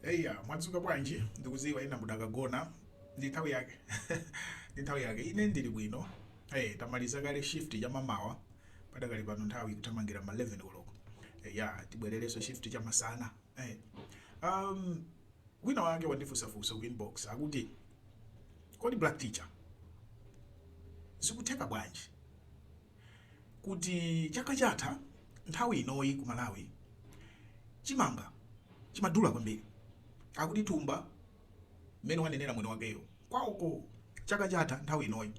Eya, mwadzuka bwanji? Ndikuziwa ena mudakagona. Ndi nthawi yake. Ndi nthawi yake. Ine ndili bwino. Eh, tamaliza kale shift ya mamawa. Padakali pano nthawi ikuthamangira ma 11 koloko. Eya, tibwererenso shift cha masana. Eh. Um, wina wake wandifunsafunsa ku inbox akuti kodi black teacher zikutheka bwanji kuti chaka chatha nthawi inoyi ku Malawi chimanga chimadula kwambiri. Akuti thumba mmene ananenera mwini wakeyo kwawoko chaka chatha nthawi inoyi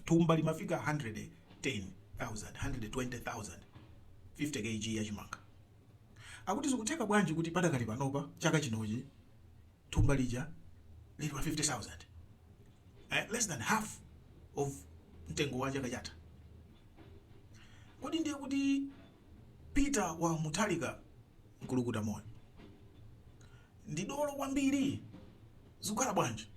thumba limafika 110,000, 120,000, 50 KG ya chimanga. Akuti zikutheka bwanji kuti padakali panopa chaka chinochi thumba lija lili pa 50,000 eh, less than half of mtengo wa chaka chatha. Kodi ndiye kuti Peter wa Mutharika mkulukuta moyo ndi dolo kwambiri zikukhala bwanji?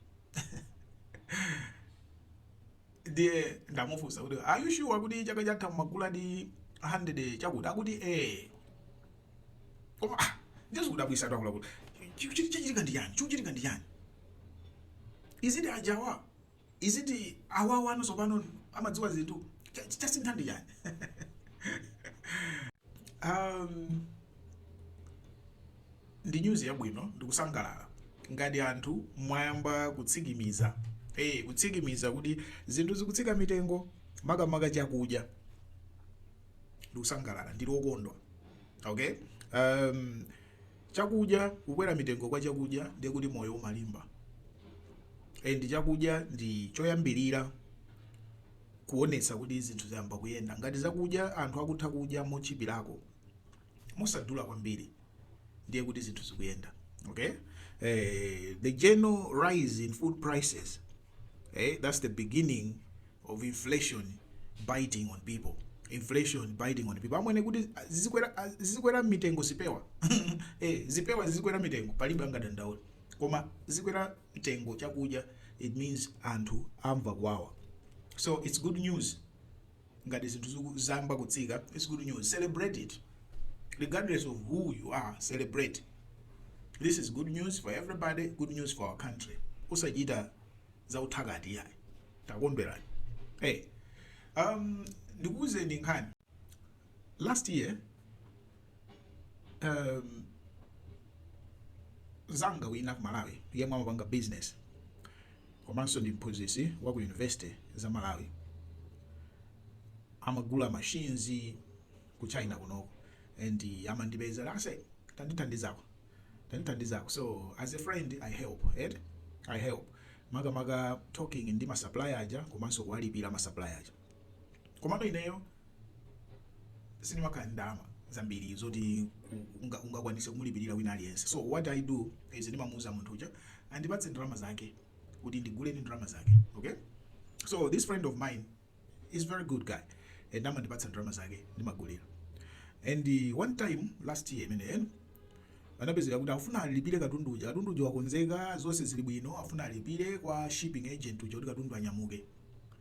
ndiye ndamufunsa kuti are you sure kuti chaka chatha mumaguladi 100 chakuti akuti eh koma ah, ndiye zikudabwitsatu akuluakulu Chi- chi- chichitika ndi chani chikuchitika ndi chani is it ajawa is it awawa ano tsopano amadziwa zinthu Cha- cha- chasintha ndi chani um, ndi nyuzi yabwino ndikusangalala ngati anthu mwayamba kutsimikiza hey, kutsimikiza kuti zinthu zikutsika mitengo makamaka chakudya ndikusangalala ndili wokondwa okay um, chakudya kukwera mitengo kwa chakudya ndiye kuti moyo umalimba and chakudya ndi choyambirira kuonetsa kuti zinthu zayamba kuyenda ngati zakudya anthu akutha kudya motchipirako mosadula kwambiri ndiye kuti zinthu zikuyenda okay eh, the general rise in food prices eh, that's the beginning of inflation biting on people inflation biting on people amwene kuti ah, zizikwera ah, zizikwera mitengo zipewa eh, zipewa zizikwera mitengo palibe angadandaule koma zizikwera mtengo chakudya it means anthu amva kuwawa so it's good news ngati zinthu ziku zayamba kutsika it's good news celebrate it regardless of who you are celebrate this is good news for everybody good news for our country osachita za ufiti iyayi takondwerani hey um ndikuwuzeni nkhani last year um, zanga wina ku malawi yemwe amapanga business komanso ndi mphunzitsi wa ku university za malawi amagula machines ku china kunoko and amandipeza ase tandithandizako tandithandizako so as a friend i help right? i help makamaka talking ndi masupplier aja komanso kuwalipira masupplier aja komano ineyo sindimakhala ndi ndalama zambiri zoti unga- ungakwanise kumulipirira wina aliyense so what i do is ndimamuuza munthu uja andipatse ndalama zake kuti ndigule ndi ndalama zake okay so this friend of mine is very good guy and amandipatsa ndalama zake ndimagulira and uh, one time last year imeneyo anapezeka kuti afuna alipire katundu uja katundu uja wakonzeka zonse zili bwino afuna alipire kwa shipping agent uja kuti katundu anyamuke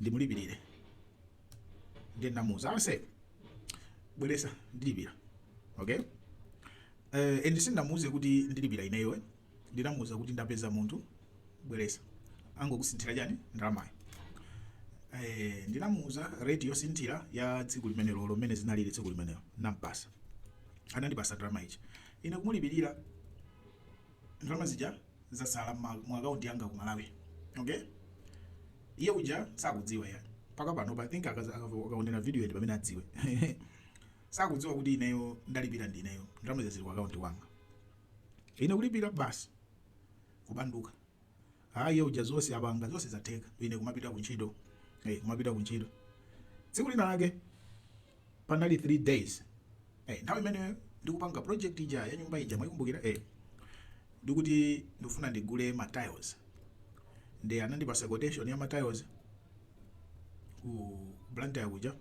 ndimulipirire ndiye ndamuuza ase bweresa ndilipira okay uh, and sindinamuuze kuti ndilipira ineyo eh. ndinamuuza kuti ndapeza munthu bweresa angokusinthira chani ndalamayo eh, ndinamuuza rate yosinthira ya tsiku limenelo lomwe mmene zinalili tsiku limenelo nampasa anandipasa ndalama ija ine kumulipirira ndalama zija zasala mma mu account yanga ku Malawi okay iye uja sakudziwa ya mpaka pano I think akaza- akavo- akaonera video ndi pamene adziwe sakudziwa kuti ineyo ndalipira ndi ineyo ndalama zili ku account wanga ine kulipira basi kubanduka hayi iye uja zonse apanga zonse zatheka ine kumapita ku ntchito eh kumapita ku ntchito tsiku lina lake panali 3 days eh, nthawi imene ndikupanga project ija ya nyumba ija mwaikumbukira eh, ndikuti ndifuna ndigule ma tiles ndi anandipasa quotation ya ma tiles ku Blantyre kuja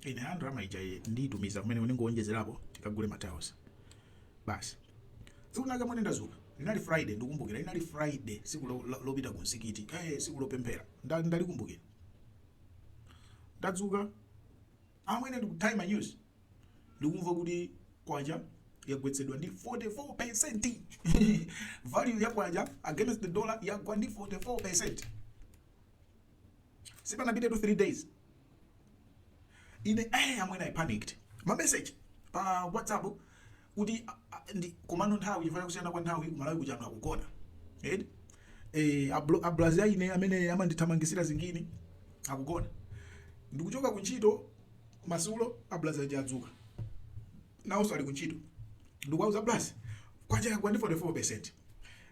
ine ah ndalama ija iyi ndiyitumiza kumene ndingowonjezerapo tikagule ma tiles basi tsiku linalake mmene ndazuka linali friday ndikumbukira linali friday siku lo- lo- lopita ku msikiti eh, siku lopemphera Nda- ndalikumbukira ndadzuka amwene ndikuthaima news ndikumva kuti kwacha yagwetsedwa ndi 44 percent value ya kwacha against the dollar yagwa ndi 44 percent sipanapitetu 3 days ine eh amwene i panicked ma message pa whatsapp kuti ndi komano nthawi chifukwa kusiyana kwa nthawi ku malawi kuja anthu akugona edi eh abulazi a ine amene amandithamangisira zingini akugona ndikuchoka ku ntchito madzulo abulazi aja adzuka nawonso ali ku ntchito ndikuwauza abulazi kwacha yagwa ndi 44 percent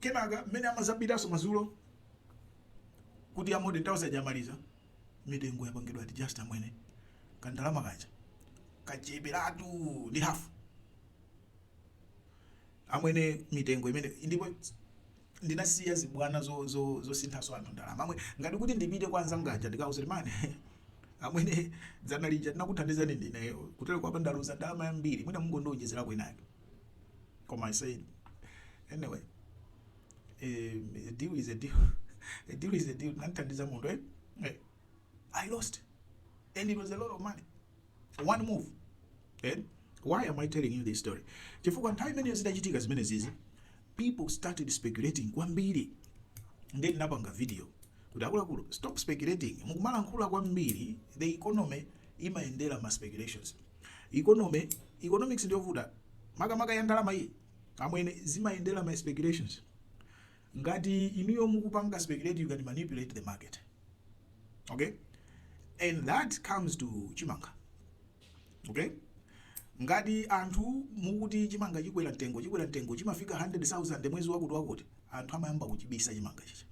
kenaka mmene amazapitanso madzulo kuti ya modern tiles aja amaliza mitengo yapangidwa adjust amwene kandalama kaja kacheperatu ndi half amwene mitengo imene ndipo ndinasiya zibwana zo- zo- zosinthanso anthu ndalama amwe ngati kuti ndipite kwa anzanga aja ndikawauze man amwene dzana lija tinakuthandizani ndineyo kutero kwake ndaluza ndalama yambiri mwina mungondiwonjezerako inake koma i said anyway eh, a deal is a deal a deal is a deal ndathandiza munthu eh? eh, i lost and it was a lot of money one move eh? why am i telling you this story chifukwa nthawi imeneyo zidachitika zimenezizi people started speculating kwambiri ndiye ndinapanga video kuti akuluakulu stop speculating mukumalankhula kwambiri the economy imayendera ma speculations Economy, economics ndiyovuta makamaka ya ndalama iyi amwene zimayendera ma speculations ngati inuyo mukupanga speculate you can manipulate the market okay and that comes to chimanga okay ngati anthu mukuti chimanga chikwera mtengo chikwera mtengo chidzafika 100,000 mwezi wakuti wakuti anthu amayamba kuchibisa chimanga chija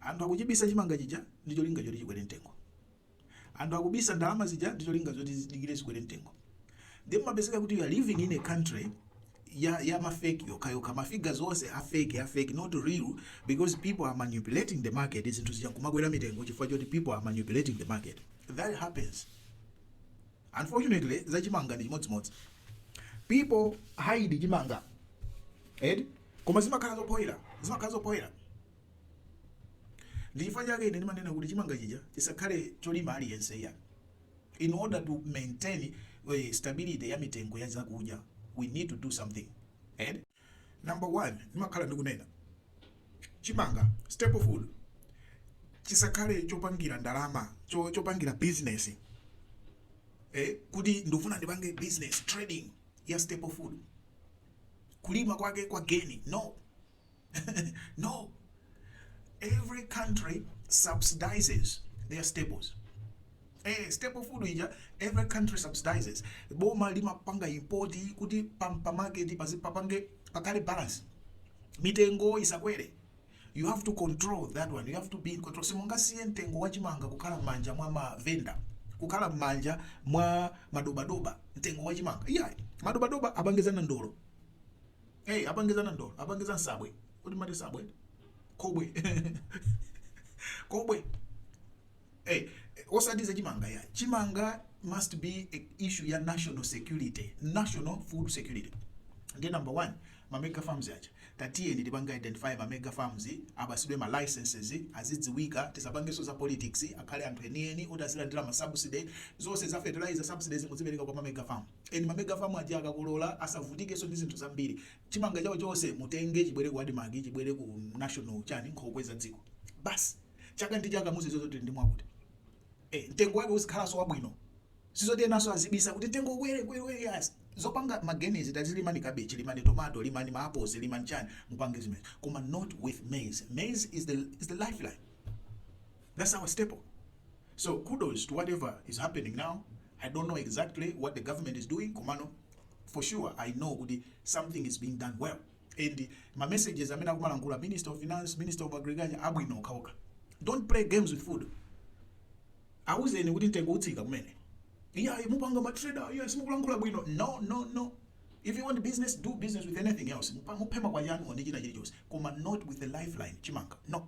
anthu akuchibisa chimanga chija ndi cholinga choti chikwere mtengo Anthu akubisa ndalama zija ndi cholinga choti zidikire zikwere mtengo. Ndiye mumapezeka kuti you are living in a country ya ya ma fake okha okha ma figures onse are fake are fake not real because people are manipulating the market zinthu zija kumakwera mitengo chifukwa choti people are manipulating the market that happens unfortunately za chimanga ndi chimodzimodzi people hide chimanga edi koma zimakhala zopoyera zimakhala zopoyera ndi chifukwa chake ine ndimanena kuti chimanga chija chisakhale cholima aliyense ya in order to maintain uh, stability ya mitengo ya zakudya we need to do something and number one ndimakhala ndikunena chimanga staple food chisakhale chopangira ndalama cho, chopangira business eh, kuti ndifuna ndipange business trading ya staple food kulima kwake kwa geni no no. Every country subsidizes their staples. Eh, staple food ija every country subsidizes. Boma limapanga import kuti pa market pazi- papange pakhale balance. Mitengo isakwere. You have to control that one. You have to be in control. Simungasiye mtengo wachimanga kukhala mmanja mwa mavenda kukhala mmanja mwa madobadoba mtengo wachimanga. Yeah, madobadoba apangizana ndolo. Hey, apange za nandolo, apange za nsabwe. Kodi mati nsabwe? Kobwe. Kobwe. Hey, osati za chimanga ya. Chimanga must be a issue ya national security, national food security. Ndiye number one, ma mega farms aja. Tatiyeni tipange identify ma mega farms, apatsidwe ma licenses, azidziwika, tisapangenso za politics, akhale anthu enieni, oti azilandira ma subsidy, zonse za fertilizer subsidies muzipereka kwa ma mega farms. Eh ma mega farm aja akakolora asavutikenso ndi zinthu zambiri. Chimanga chawo chonse mutenge chibwere ku Admarc chibwere ku national chani nkhokwe za dziko. Basi chaka ndi chaka muzidziwa zoti tili ndi mwakuti. Eh mtengo wake uzikhalanso wabwino. Sizoti enanso azibisa kuti mtengo ukwere kwere kwere yayi. Zopanga ma geni tazilimani cabbage, limani tomato, limani ma apples, limani chani mupange zimenezo. Koma not with maize. Maize is the is the lifeline. That's our staple. So kudos to whatever is happening now, I don't know exactly what the government is doing komano for sure I know kuti something is being done well and ma messages amene akumalankhula Minister of Finance, Minister of Agriculture abwino okhaokha. Don't play games with food. Awuzeni kuti mtengo utsika kumene. Yeah, mupanga ma trader, yes mukulankhula bwino. No, no, no. If you want business, do business with anything else. Mupa- Muphe makwayanu ndi china chilichonse. Koma not with the lifeline chimanga. No.